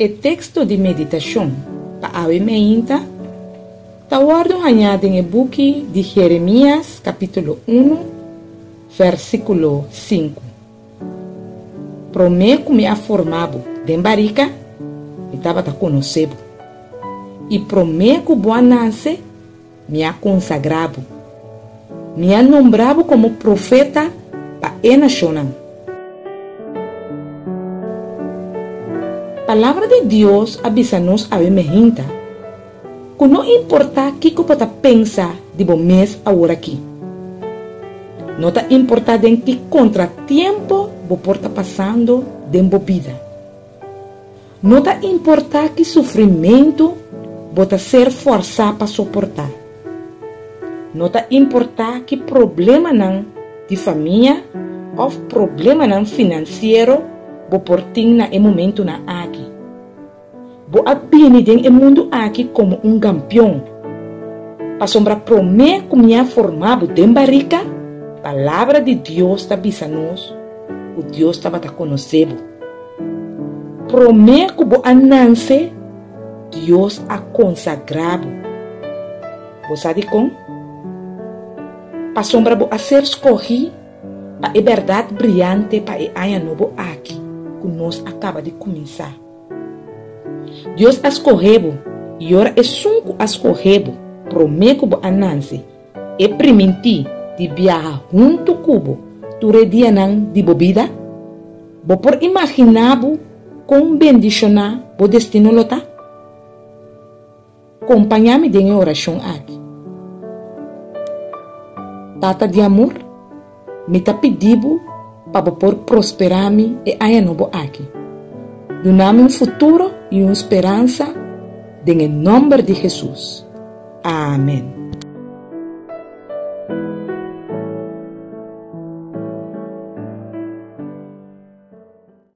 E teksto di meditashon pa awe meinta ta wòrdu hañá den e buki di Jeremías kapítulo unu, vèrsikulo sinku. Promé ku mi a forma bo den barika, mi tabata konosé bo, i promé ku bo a nanse, Mi a konsagrá bo. Mi a nombrá bo komo profeta pa e nashonnan. Palabra di Dios a bisa nos awe mehinta ku no importá kiko bo ta pensa di bo mes aworakí, no ta importá den ki kontratiempo bo por ta pasando den bo bida, No ta importá ki sufrimentu bo ta ser fòrsá pa soportá. No ta importá ki problemanan di famia òf problemanan finansiero bo por tin na e momentunan aki. Bo a bini den e mundu aki komo un gampion, pasobra promé ku mi a formá bo den barika, palabra di Dios ta bisa nos ku Dios tabata konosé bo. Promé ku bo a nance, Dios a konsagrá bo. Bo sa di kon? Pasobra bo a ser skogí pa e bèrdat briante pa e aña nobo aki ku nos a kaba di kuminsá. Dios a skoge bo, i ora Esun ku a skoge bo promé ku bo a nance, E primintí di biaha huntu ku bo tur e dianan di bo bida? Bo por imaginá bo kon bendishoná bo destino lo ta? Kompañá mi den e orashon aki, Tata di amor. Mi ta pidi bo pa bo por prosperá mi e aña nobo aki. Duna mi un futuro i un speransa den e nòmber di Hesus. Amen.